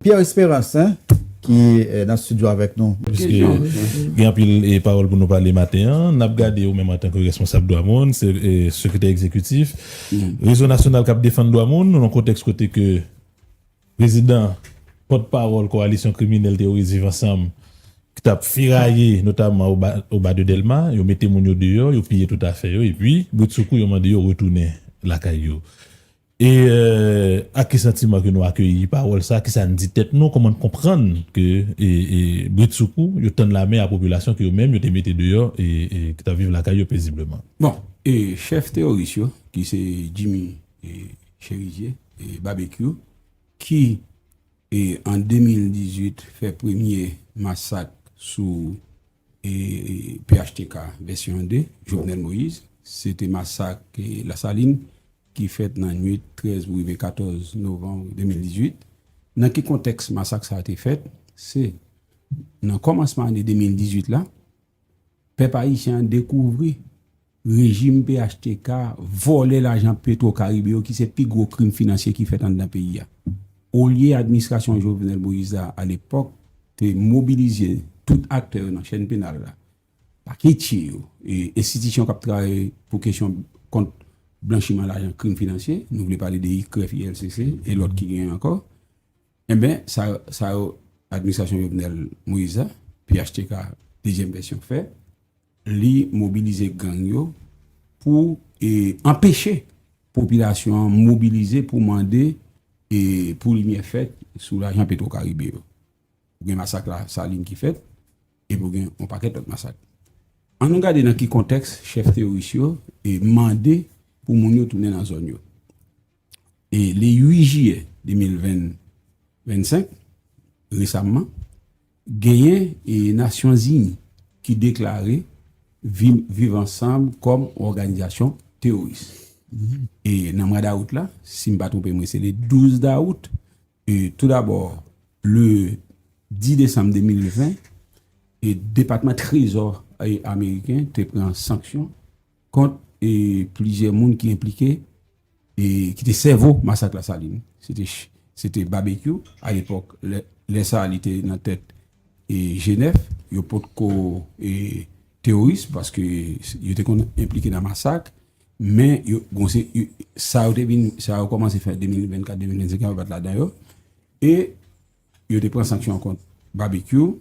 Pierre Esperance ki nan studio avèk nou. Piske gen anpil pawòl pou nou pale maten an, n ap gade ou menm antanke responsab dwa moun, sekretè egzekitif Rezo nasyonal k ap defann dwa moun nan yon kontèks kote ke prezidan pòt pawòl kowalisyon kriminèl teworis Viv Ansanm ki t ap feraye notamman o ba de Dèlma, yo mete moun yo deyò, yo piye tout afè yo epi bridsoukou yo mande yo retounen lakay yo. E ak ki santiman ke nou akeyi pawòl sa, kisa n di tèt nou, kòman n konprann ke britsoukou yo tann lame a popilasyon ke yo menm yo te mete deyò e ki t ap viv lakay yo pezibleman? Bon, e chèf teyoris yo ki se Jimmy Cherizier, Babekyou, ki e an 2018 fè premye masak sou Phtk vèsyon 1 de Jovenel Moïse se te masak Lasalin ki fèt nan nwit 13 pou rive 14 novanm 2018. Nan ki kontèks masak sa a te fèt? Se nan kòmansman ane 2018 la pèp ayisyen an dekouvri Rejim phtk vòlè lajan petro karibe yo ki se pi gwo krim finansye ki fèt anndan peyi a. Olye administrasyon Jovenel Moïse la a lepòk te mobilizye tout aktè yo nan chèn penal la, paketye yo e enstitisyon k ap travay pou kesyon kont blanchiman lajan krim finansye, nou vle pale de ICREF, ILCC e lòt ki genyen ankò, enben sa sa yo administrasyon Jovenel Moïse la, phtk dezyèm vèsyon fè. Li mobilize gang yo pou anpeche popilasyon an mobilize pou mande pou limyè fèt sou lajan petwokaribe yo. Ou gen masak la salin ki fèt epi ou gen yon pakèt lòt masak. An nou gade nan ki kontèks chèf teyoris yo mande pou moun yo tounen nan zòn yo. E le 8 jiyè 2025, resamman, genyen e Nasyonzini ki deklare vim viv ansanm kòm on òganizasyon teworis. E nan mwa dawout la, si m pa twonpe mwen se le 12 dawout, e tou dabò le 10 desanm 2020, e depatman trezò e ameriken te pran sanksyon, kont e plizyè moun ki enplike e ki te sèvo masak Lasalin. Se te se te Babekyou a lepòk lè lè sa li te nan tèt e G9 yo pot ko e teworis paske yo te konn enplike nan masak men yo bon se sa yo te vin sa yo kòmanse fè 2024 2025 an yo pat ladan yo e yo te pran sanksyon kont Babekyou.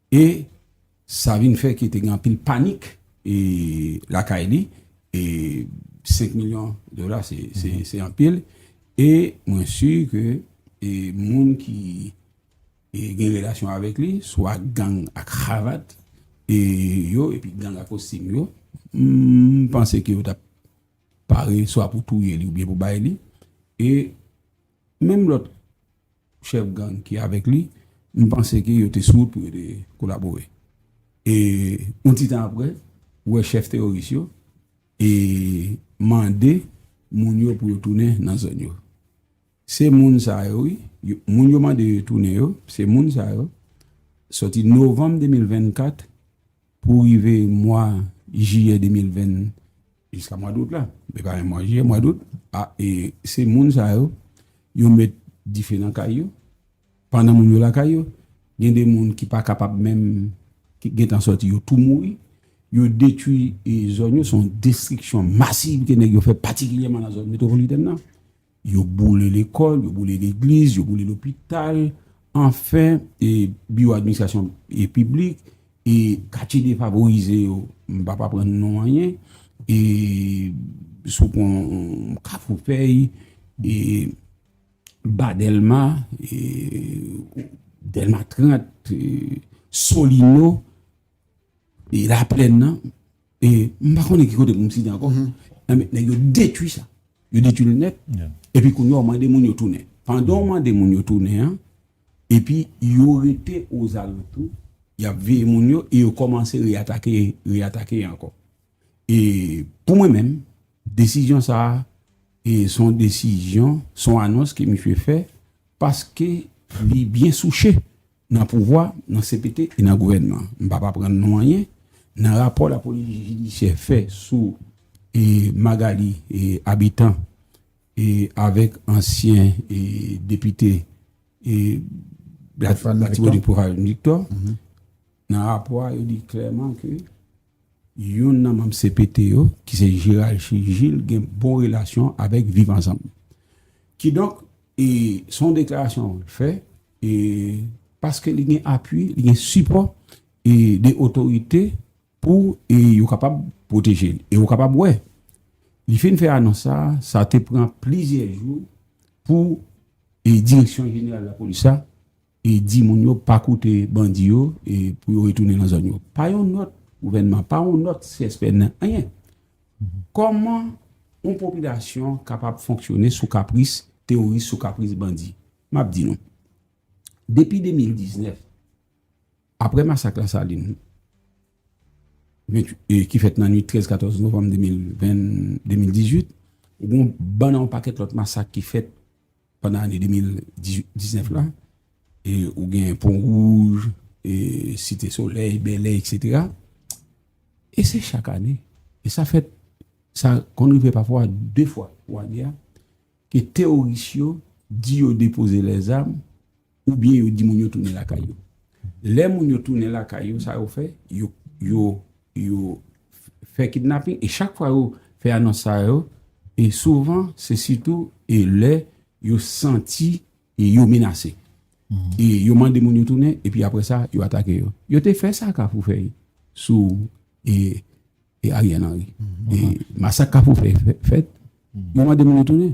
E sa vin fè ke te gen anpil panik lakay li. E 5 milyon dola se anpil. E mwen si ke moun ki gen relasyon avèk li, swa gang a kravat yo, epi gang a kostim yo, m panse ke yo tap pare swa pou touye li oubyen pou bay li. E menm lòt. chèf gang ki avèk li, m panse ke yo te sou wout pou yo te kolabore. E yon ti tan apre, ou wè chèf teworis yo e mande moun yo pou yo tounen nan zòn yo. Se moun sa yo wi, moun yo mande yo tounen yo, se moun sa yo, sòti novanm 2024 pou rive mwa jiyè 2020, Jiska mwa dout la, li pa menm mwa jiyè, mwa dout, a e se moun sa yo, yo met dife nan kay yo, pandan moun yo lakay yo, gen de moun ki pa kapab menm, ki gen tan sòti yo tou mouri, yo detwi e zòn yo, son destriksyon masiv ke nèg yo fè patikilyèman nan zòn metwopolitèn nan. Yo boule lekòl, yo boule legliz, yo boule lopital, anfen, e biwo administrasyon e piblik, e katye defavorize yo, m pa pa pran non anyen, e sou pon kafou fèy, e ba dèlma, e dèlma 30, e solino, e la plèn nan. E m pa konnen ki kote pou m site ankò. Enben, nèg yo detwi sa. Yo detwi l nèt. Epi kounye a w mande moun yo tounen. Pandan w mande moun yo tounen an, epi yo rete ozalantou, y ap veye moun yo e yo kòmanse reatake, reatake ankò. E pou mwen menm, desizyon sa a, e s on desizyon, s on anons ke misye fè, paske li byen souche Nan pouvwa, nan cpt e nan gouvènman. M p ap aprann nou anyen. Nan rapò lapolis jidisyè fè sou Magalie Habitant avèk ansyen depite Latibonit Prophane Victor, nan rapò a yo di klèman ke Youn nan manm cpt yo, ki se Gerald Gilles gen bon relasyon avèk Viv Ansanm. Kidonk, se yon deklarasyon l fè paske li gen apui, li gen sipò de otorite pou yo kapab pwoteje l. E ou kapab wè, li fin fè anons sa, sa te pran plizyè jou pou direksyon jeneral lapolis la. e di moun yo pa koute bandi yo e pou yo retounen nan zòn yo. Pa yon nòt gouvènman, pa yon nòt CSPN, anyen. Kòman yon popilasyon kapab fonksyone sou kapris teworis, sou kapris bandi? M ap di nou, depi 2019, apre masak Lasalin, ki fèt nan nwit 13, 14 novanm 2018, ou gen yon bann an yon pakèt lòt masak ki fèt, pandan ane 2019 la, e ou gen Pon Wouj, e Site Solèy, Bèlè, etc. E se chak ane, e sa fèt, sa konn rive pafwa 2 fwa pou ane a, ke teworis yo di yo depoze lèzam, oubyen yo di moun yo tounen lakay yo. Lè moun yo tounen lakay yo, sa yo fè, yo fè kidnaping, e chak fwa yo fè anons sa yo, e souvan, se sitou, e lè yo santi e yo menase. E yo mande moun yo tounen, e pi apre sa, yo atake yo. Yo te fè sa kafou fè yi, sou e Ariel Henry. E masak kafou fè fèt, yo mande moun yo tounen.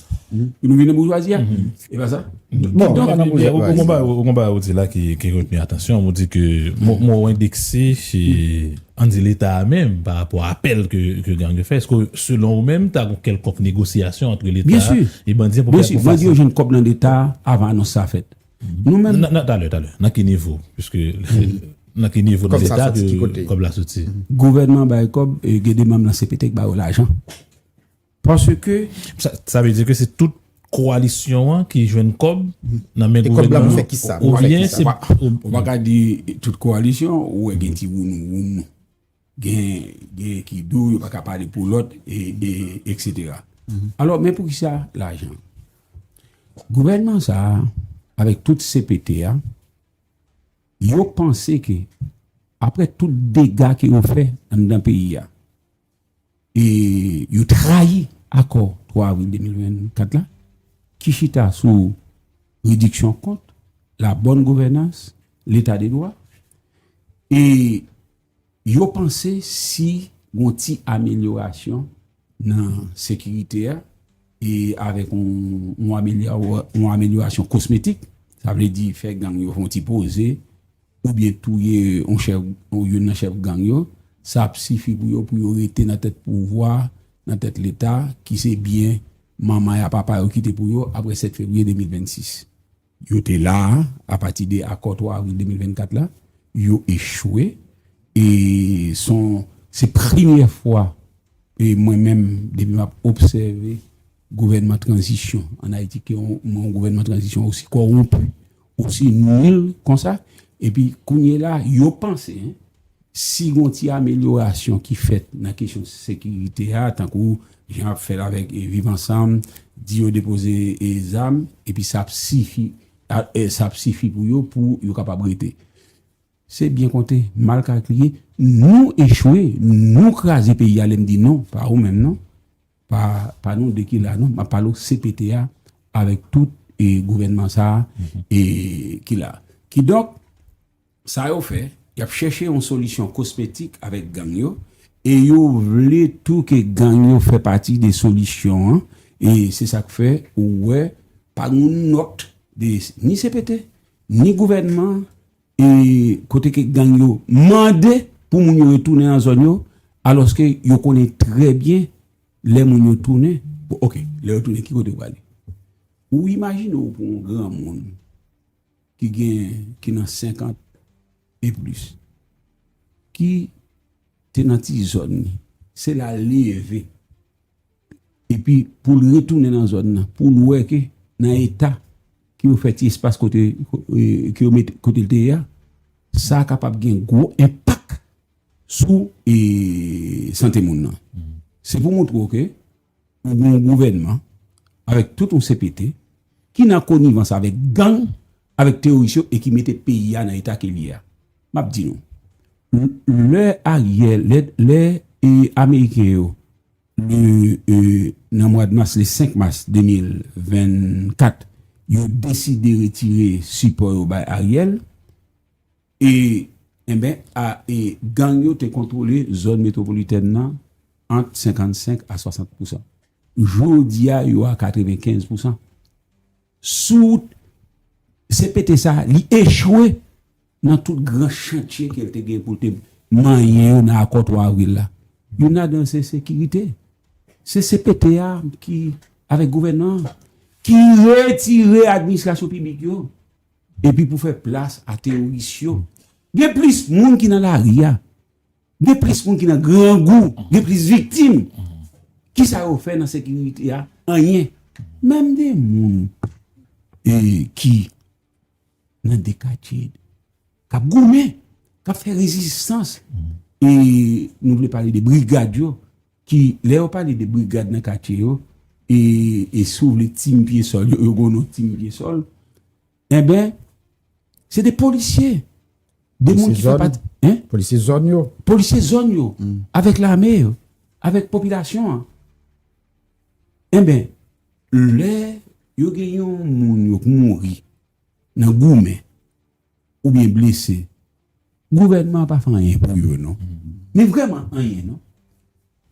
Pou nou vin nan boujwazi a? E pa sa? Bon, an nan boujwazi. Ou kon ba, ou kon ba ou di la ki reteni atansyon, ou di ke mò ou endekse se, an di leta a menm, pa rapò a apèl ke gang yo fè, eske selon ou menm, ta gon kèlkonk negosyasyon antre leta a e bandi an pou fè sa? Byensi, bandi yo jwenn kòb nan leta a avan anons sa fèt. Nou menm. Nan, talè, talè. Nan ki nivo? Piske, nan ki nivo nan leta ke kòb la soti? Gouvènman bay kòb, e gen de manm nan CPT ki ba yo lajan. Paske. Sa vle di ke se tout koalisyon an ki jwenn kòb nan men gouvènman an? E kòb la pou fè ki sa? Ou byen se. Ou pa ka di tout koalisyon, ou wè gen ti wounou wounou. Gen ki do, yo pa ka pale pou lòt, etc. Alò, men pou ki sa lajan? Gouvènman sa, avèk tout CPT a, yo panse ke apre tout dega ke yo fè anndan peyi a, e yo trayi akò 3 avril 2024 la ki chita sou rediksyon kont, labòn gouvènans, leta de dwa, e yo panse si gon ti amelyorasyon nan sekirite a, e avèk yon amelyorasyon kosmetik, sa vle di fè gang yo fè yon ti poze oubyen touye youn nan chèf gang yo, sa ap sifi pou yo pou yo rete nan tèt pouvwa, nan tèt Leta ki se byen manman y a papa yo kite pou yo apre 7 fevriye 2026. Yo te la a apati de akò 3 avril 2024 la, yo echwe e son se premyè fwa e mwen menm depi map obsève gouvènman tranzisyon an Ayiti ke yon gouvènman tranzisyon osi kowonpi, osi nil konsa epi kounyela yo panse Si gon ti amelyorasyon ki fèt nan kesyon sekirite a, tankou jan ap fèt avèk Viv Ansanm, di yo depoze zam, epi sa ap sifi, sa ap sifi pou yo, pou yo kapab rete. Se byen konte, mal kalkile, nou echwe, nou kraze peyi a, lè m di nou, pa ou menm non, pa nou 2 ki la non, m ap pale w cpt a, avèk tout gouvènman sa a, ki la. Kidonk. Sa yo fè, y ap chèche yon solisyon kosmetik avèk gang yo, e yo vle tou ke gang yo fè pati de solisyon an, e se sa k fè ou wè pa gen yon nòt de ni cpt, ni gouvènman an, e kote ke gang yo mande pou moun yo retounen nan zòn yo, alòske yo konnen trè byen lè moun yo tounen, bon ok, lè yo tounen ki kote yo prale? Ou imajine w pou yon granmoun. ki gen ki nan 50 e plis ki te nan ti zòn li se la li leve epi pou l retounen nan zòn nan pou l wè ke nan eta ke yo fè ti espas kote ke yo mete kote l te ye a sa kapab gen gwo enpak sou e sante moun nan se pou montre w ke Ou gen yon gouvènman avèk tout yon cpt ki nan konivans avèk gang, avèk teworis yo e ki mete peyi a nan eta ke li ye a. M ap di nou, lè Ariel, lè ameriken yo le nan mwad mas, le 5 mas 2024, yo deside retire sipò yo bay Ariel, E enben a e gang yo te kontwole zòn metwopolitèn nan ant 55 a 60 pousan. Jodi a yo a 95 pousan. Sou CPT sa li echwe nan tout gran chantye ke l te gen pou l te manyen yo nan akò 3 avril la. Youn ladan l se sekirite. Se CPT a ki avèk gouvènman an ki retire administrasyon piblik yo Epi pou fè plas a teoris yo, gen plis moun ki nan lari a, gen plis moun ki nan grangou, gen plis viktim. Kisa yo fè nan sekirite a? Anyen. Menm gen moun ki nan dekatye k ap goumen, k ap fè rezistans. E nou vle pale de brigad yo. Ki lè yo pale de brigad nan katye yo e e si w vle team pye sòl yo yo gen yon non team pye sòl enben se de polisye de moun ki fè pati hein polisye zòn yo polisye zòn yo avèk lame yo avèk popilasyon an enben lè yo gen yon moun yo k mouri nan goumen oubyen blese gouvènman an pa fè anyen pou yo non men vrèman anyen non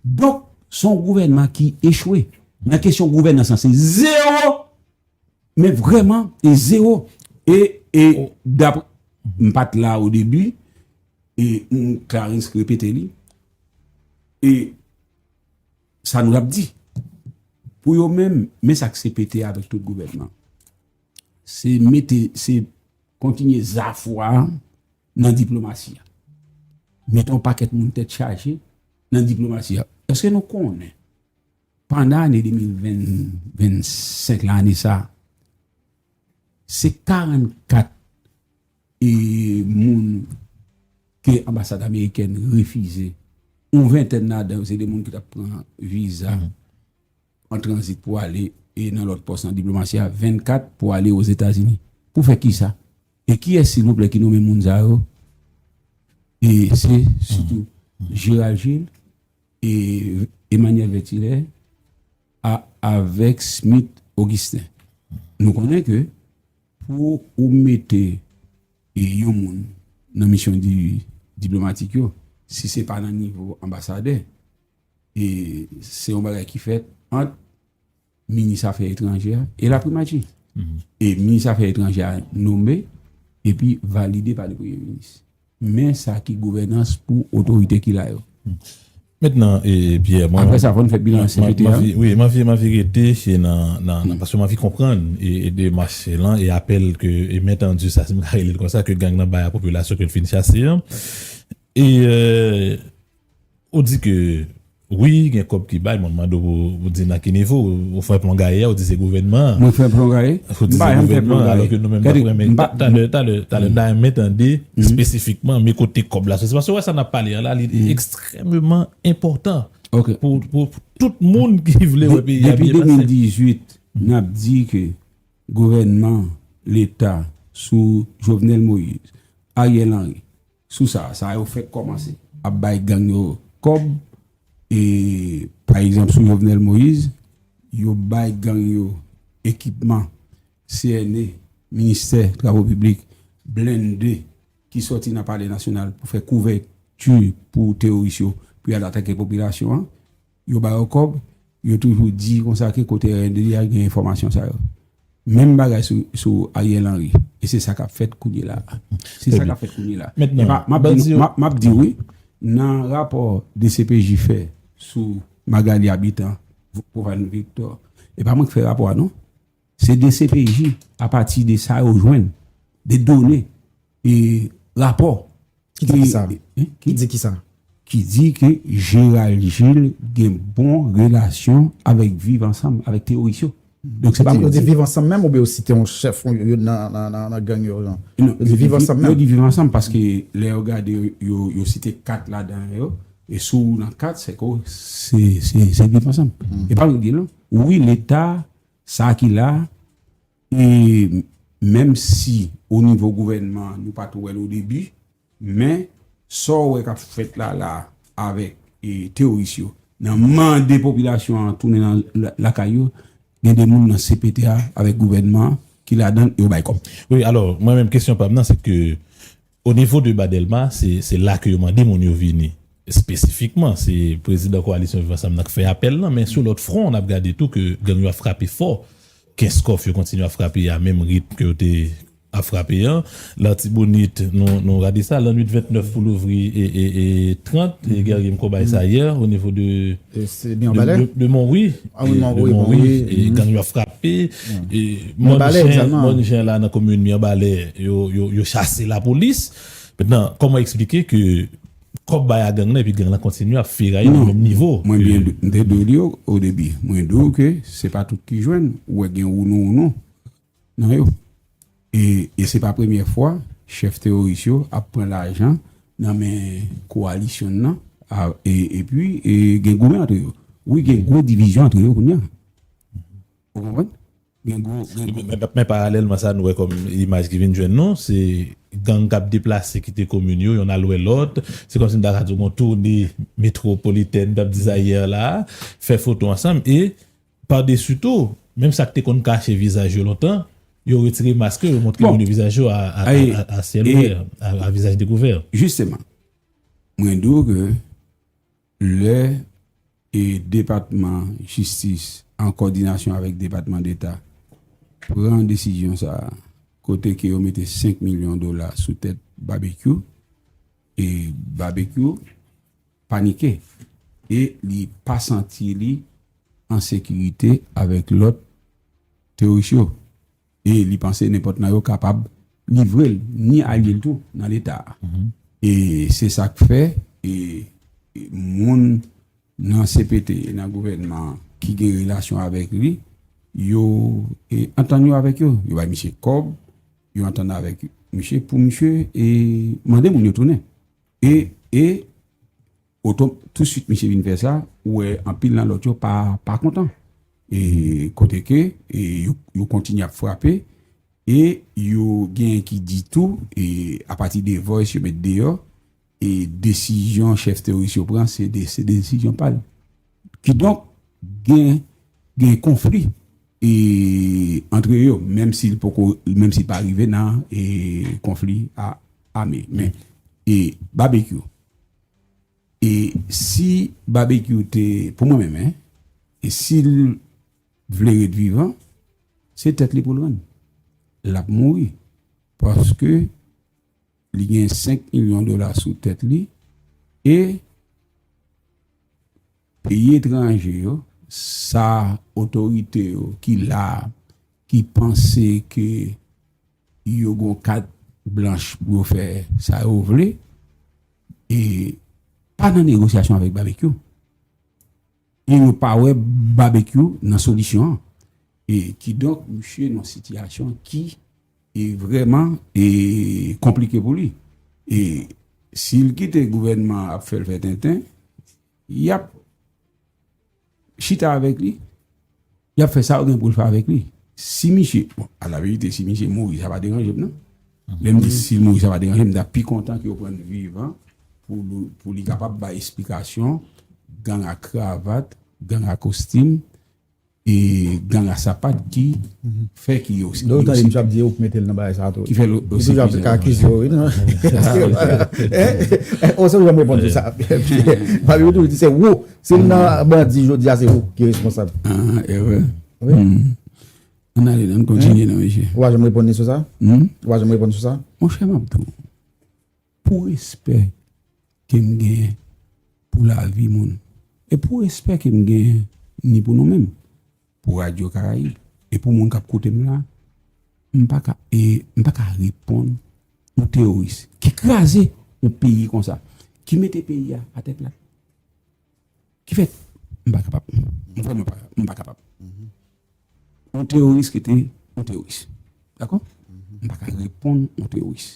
donk son gouvènman ki echwe nan kesyon gouvènans lan se zewo men vrèman e zewo e e dapre m pat la o debi e m Clarens ki repete li e sa nou ap di pou yo menm men sa k CPT avèk tout gouvènman. Se mete, se kontinye zafwa nan diplomasi a. Mete yon pakèt moun tèt chaje nan diplomasi a. Eske nou konnen, pandan ane 2025 la, ane sa, se 44 e moun ke anbasad amerikèn refize, yon ventèn ladan yo se de moun ki tap pran viza. an tranzit pou ale nan lòt pòs nan diplomasi a, 24 pou ale Ozetazini. Pou fè kisa? E kiyès silvouplè ki nome moun sa yo? E se sitou Gérald Gilles e Emmanuel Vertilè a avèk Smith Augustin. Nou konnen ke pou ou mete yon moun nan misyon diplomatik yo, si se pa nan nivo anbasadè, E se yon bagay ki fèt ant minis afè etranjè a e laprimati. E minis afè etranjè a nome epi valide pa le premye minis. Men sa ki gouvènans pou otorite ki la yo. Mentnan Pierre, mwen. Apre sa fò n fè bilan CPT a. Wi, m anvi rete nan, paske m anvi konprann demach lan e apèl ke e mentendu sa, si m ka rele l konsa, ke gang nan bay a popilasyon ke l fin chase an. E. Ou di ke wi gen kòb ki bay men m mande w ou di nan ki nivo? Ou fè plon gaye a ou di se gouvènman an. Mwen fè plon gaye? Ou di se gouvènman an alò ke nou menm n ap renmen. Talè talè talè n ta renmen tande espesifikman men kote kòb la soti. Paske ou wè sa n ap pale an la li ekstrèmeman enpòtan pou tout moun ki vle wè peyi a byen pase. Depi 2018 n ap di ke gouvènman leta sou Jovenel Moïse, Ariel Henry Sou sa, sa yo fèk kòmanse ap bay gang yo kòb e pa egzanp sou Jovenel Moïse, yo bay gang yo ekipman CNE, Ministè Travo Piblik, blende ki sòti nan Palè Nasyonal pou fè kouvèti pou teworis yo pou y al atake popilasyon an. yo ba yo kòb, yo toujou di konsa ke kote RNDD a gen enfòmasyon sa yo. Menm bagay sou Ariel Henry. E se sa k ap fèt kounyela a. Se sa k ap fèt kounyela a. Mèt nan. M ap di w wi, nan rapò dcpj fè sou Magalie Habitant, Provence Victor, e pa mwen ki fè rapò a non. Se dcpj a pati de sa yo jwenn, de done, e rapò. Ki di ki sa? Ki di ki sa? Ki di ke Gérald Gilles gen bon relasyon avèk Viv Ansanm, avèk teworis yo. Donk se pa mwen ki di. Yo di Viv Ansanm menm oubyen yo site yon chèf youn nan gang yo? Non, yo di Viv Ansanm menm. Yo di Viv Ansanm paske lè yo gade yo site 4 ladan yo, e si w nan 4 se ke w se Viv Ansanm. E pa mwen ki di l non. Wi leta Sa ki la, e menm si o nivo gouvènman an nou pa t wè l o debi, men sa w wè k ap fèt la la avèk teworis yo nan mande popilasyon an tounen nan lakay yo, gen de moun nan cpt a avèk gouvènman an ki ladan l e yo bay kòb. Wi, alò mwen menm kesyon pa m nan se ke O nivo de ba Dèlma, se la ke yo mande moun yo vini. Espesifikman, se prezidan Koalisyon Viv Ansanm nan k fè apèl lan, men sou lòt fwon, n ap gade tou ke gang yo ap frape fò. Kenskòf, yo kontinye ap frape a menm ritm ke yo te ap frape an. Latibonit, nou rate sa, lannuit 29 pou louvri 30, Guerrier m ko bay sa yè, o nivo de Monwi, gang yo ap frape. Pi moun jen la nan komin Mirebalè yo chase lapolis. Metnan, kòman eksplike ke kòb bay a gang la epi gang la kontinye ap feraye nan menm nivo? Mwen byen te di w li o debi. Mwen di w ke se pa tout ki jwenn. Ou wè gen wounou wounou nan yo. E se pa premyè fwa chèf teworis yo ap pran lajan nan men kowalisyon nan epi gen goumen antre yo. Wi gen gwo divizyon antre yo kounya. Ou konprann? Gen gwo. Men paralèlman sa nou wè kòm imaj ki vin jwenn nou, se gang k ap deplase kite komin yo, yonn al wè lòt. Se kòmsi m ta ka di w gen yon toune metwopolitèn, m t ap di sa yè la a, fè foto ansanm e Padesi tou, menm sa k te konn kache vizaj yo lontan, yo retire mask yo, yo montre moun yo vizaj yo a syèl ouvè, a vizaj dekouvè. Jisteman, mwen di w ke lè Depatman Jistis an kòdinasyon avèk Depatman Deta pran desizyon sa a, kote ke yo mete 5 milyon dola sou tèt Babekyou, e Babekyou, panike e li pa santi li an sekirite avèk lòt teworis yo e li panse nenpòt nan yo kapab livre l ni alye l tou nan leta a. E se sa k fè e moun nan cpt e nan gouvènman an ki gen relasyon avèk li yo antann yo avèk yo, yo bay misye kòb, yo antann avèk misye pou misye e mande moun yo tounen. E, e, otom, tousuit misye vin fè sa, ou wè anpil nan lòt yo pa, pa kontan. E, kote ke, e, yo, yo kontinye ap frape, e, yo genyen ki di tou, e, apati de voice yo met deyò, e, desizyon chèf teworis yo pran, se de, se desizyon pa l. Kidonk, gen gen konfli e antre yo menm si poko menm si pa rive nan e konfli a ame men e babekyou e si babekyou te pou mwen menm en e sil vle ret vivan se tèt li poul rann lap mouri paske Li gen 5 milyon dola sou tèt li e peyi etranje yo, sa otorite yo ki la a, ki panse ke yo gon kat blanch pou yo fè sa yo vle, e pa nan negosyasyon avèk Babekyou. E yo pa wè Babekyou nan solisyon an. E kidonk misye nan sitiyasyon ki vrèman konplike pou li. E si l kite gouvènman an ap fè l fè tenten, y ap chita avèk li. Y ap fè sa yo gen pou yo fè avèk li. Si misye, bon, alaverite, si misye mouri, sa pa deranje m non. Lè m di si l mouri, sa pa deranje m, m ta pi kontan ke yo pran l vivan pou li kapab bay esplikasyon gang a kravat, gang a kostim, e gang a sapat ki fè ki yo se prizonye. Lè w tande misye ap di yo pou mete l nan bagay sa a tou. Ki fè l yo se prizonye. Misye ap di yo se prizonye. Ou se ou jan m reponn tou sa. Papi yo toujou di se ou Si m nan bandi jodi a se ou ki responsab. An erè. Wi. An ale nan kontinye nan mesye. Ou pa janm reponn ni sou sa? Ou pa janm reponn sou sa? Mon chè map tou. Pou respè ke m gen pou lavi moun. E pou respè ke m gen ni pou nou menm. Pou Radio Caraïbes e pou moun kap koute m la, m pa ka e m pa ka reponn yon teworis ki kraze yon peyi konsa, ki mete peyi a atè plat, ki fè m pa kapab, m vrèman pa m pa kapab. Yon teworis rete yon teworis dakò, m pa ka reponn yon teworis.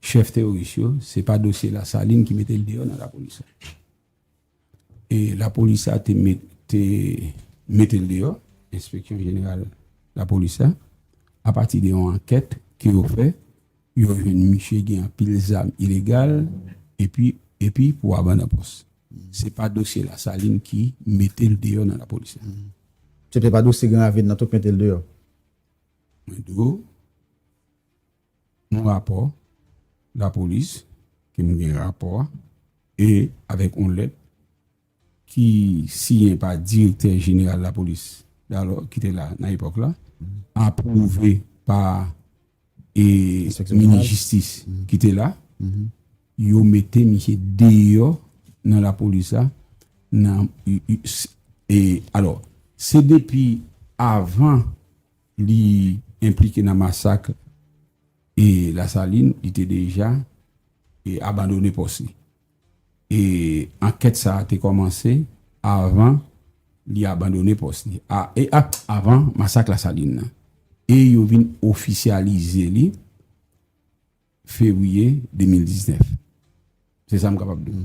chèf teworis yo, se pa dosye Lasalin ki mete l deyò nan lapolis la. E lapolis la te mete l deyò, enspeksyon jeneral lapolis la, apati de yon ankèt ke yo fè, yo jwenn misye gen anpil zam ilegal, epi pou aban nan pòs. Se pa dosye Lasalin ki mete l deyò nan lapolis la. Se te pa dosye Gran Ravin nan tou k mete l deyò? Mwen di w. yon rapò lapolis ke nou gen rapò a e avèk yon lèt ki siyen pa direktè jeneral lapolis dalò ki te la nan epòk la apwouve pa e minis jistis ki te la yo mete misye deyò nan lapolis la nan e alò se depi avan Li enplike nan masak e Lasalin, li te deja e abandone pòs li. E ankèt sa a te kòmanse avan li abandone pòs li a e a avan masak Lasalin nan. E yo vin ofisyalize li fevriye 2019. Se sa m kapab di w.